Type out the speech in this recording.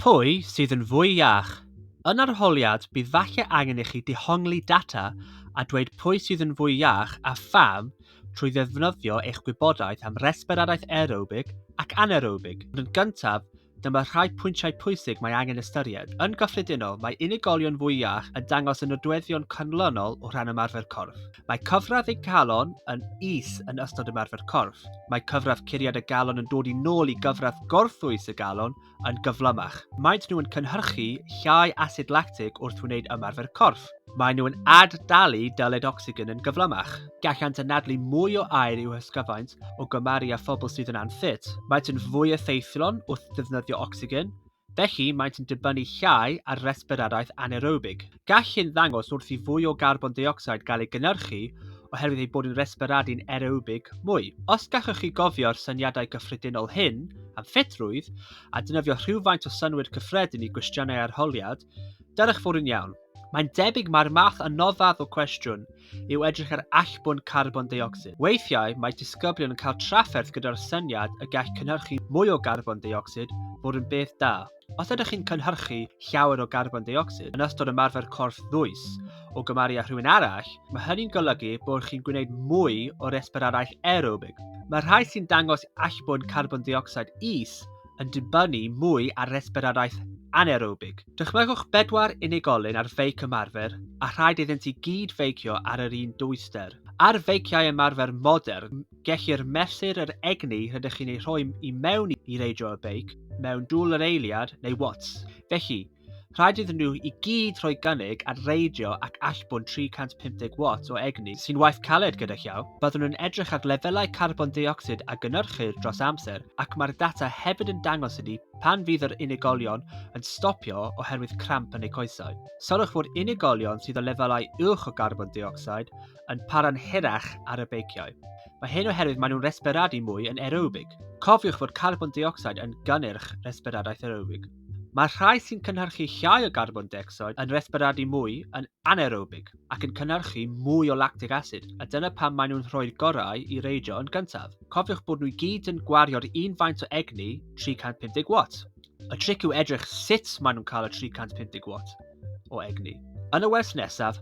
Pwy sydd yn fwy iach? Yn arholiad bydd falle angen i chi dehongli data a dweud pwy sydd yn fwy iach a pham trwy ddefnyddio eich gwybodaeth am resbiradaeth aerobig ac anaerobig. Ond yn gyntaf, dyma rhai pwyntiau pwysig mae angen ystyried. Yn gyffredinol, mae unigolion fwy iach yn dangos y nodweddion canlynol o ran ymarfer corff. Mae cyfradd eu calon yn is yn ystod ymarfer corff. Mae cyfradd curiad y galon yn dod i nôl i gyfradd gorffwys y galon yn gyflymach. Maent nhw yn cynhyrchu llai asid lactig wrth wneud ymarfer corff. Maen nhw yn ad-dalu dyled ocsigen yn gyflymach. Gallant anadlu mwy o aer i'w hysgyfaint o gymaru â phobl sydd yn anffit. Maent yn fwy effeithlon wrth ddefnyddio ocsigen, felly maent yn dibynnu llai ar resbiradaeth anaerobig. Gall hyn ddangos wrth i fwy o garbon deuocsid gael ei gynhyrchu oherwydd eu bod yn resberadu'n aerobig mwy. Os gallwch chi gofio'r syniadau cyffredinol hyn am ffitrwydd, a dynyddio rhywfaint o synnwyr cyffredin i gwestiynau arholiad, dyrych fod yn iawn. Mae'n debyg mai'r math anoddaf o cwestiwn yw edrych ar allbwn carbon deuocsid. Weithiau, mae disgyblion yn cael trafferth gyda'r syniad y gall cynhyrchu mwy o garbon deuocsid fod yn beth da. Os ydych chi'n cynhyrchu llawer o garbon deuocsid yn ystod ymarfer corff ddwys o gymaru â rhywun arall, mae hynny'n golygu bod chi'n gwneud mwy o resbiradaeth aerobig. Mae rhai sy'n dangos allbwn carbon deuocsid is yn dibynnu mwy ar resbiradaeth anaerobig. Dychmygwch bedwar unigolyn ar feic ymarfer a rhaid iddynt i gyd feicio ar yr un dwyster. Ar feiciau ymarfer modern, Gellir mesur yr egni rydych chi'n ei rhoi i mewn i reidro y beic mewn dŵl yr eiliad neu watts. Felly, rhaid iddyn nhw i gyd rhoi gynnig ar reidio ac allbwn 350 watt o egni sy'n waith caled gyda llaw. Byddwn yn edrych ar lefelau carbon deuocsid a gynnyrchir dros amser ac mae'r data hefyd yn dangos hynny pan fydd yr unigolion yn stopio oherwydd cramp yn eu coesau. Sylwch fod unigolion sydd o lefelau uwch o garbon deuocsid yn para'n hirach ar y beiciau. Mae hyn oherwydd maen nhw'n resberadu mwy yn aerobig. Cofiwch fod carbon deuocsid yn gynnyrch resberadaeth aerobig. Mae'r rhai sy'n cynhyrchu llai o garbon deuocsid yn resberadu mwy yn anaerobig ac yn cynhyrchu mwy o lactic acid, a dyna pam maen nhw'n rhoi'r gorau i reidio yn gyntaf. Cofiwch bod nhw i gyd yn gwario'r un faint o egni, 350 watt. Y tric yw edrych sut maen nhw'n cael y 350 watt o egni. Yn y wers nesaf,